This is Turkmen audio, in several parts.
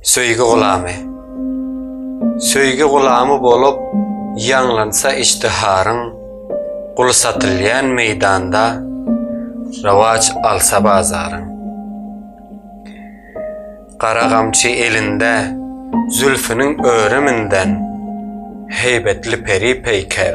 Söýgi gulamy Söýgi gulamy bolup ýaňlansa işdiharyň, Gul satylýan meýdanda, rowaç alsa bazaryň. Gara gamçy elinde, zülfüniň örüminden, Heýbetli peri-peýker.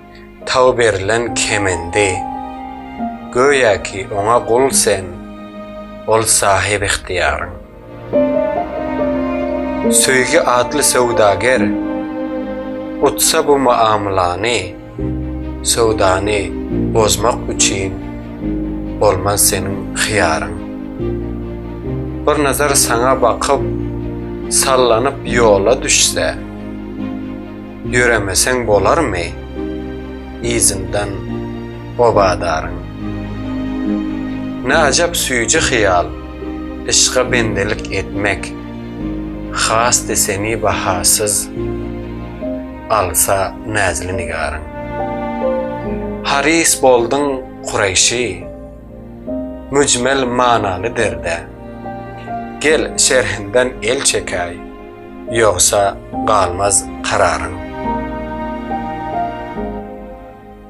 Tag berlen kemendi. Göýä ki oňa gul sen, ol sahyp ygtyýaryň. Söýgi atly söwdager, utsa bu muamylany, söwdany bozmak üçin bolmaz seniň hyýaryň. Bir nazar saňa bakyp, sallanyp ýola düşse. Ýöremeseň bolarmy yzyndan obadaryň. Ne ajap süýji hyýal, yşka bendelik etmek, Hasdy seni bahasyz alsa näzli nigaryň. Harys bolduň Kureýşi, müjmel manaly derde, Gel şerhinden el çekäý, ýogsa galmaz kararyň.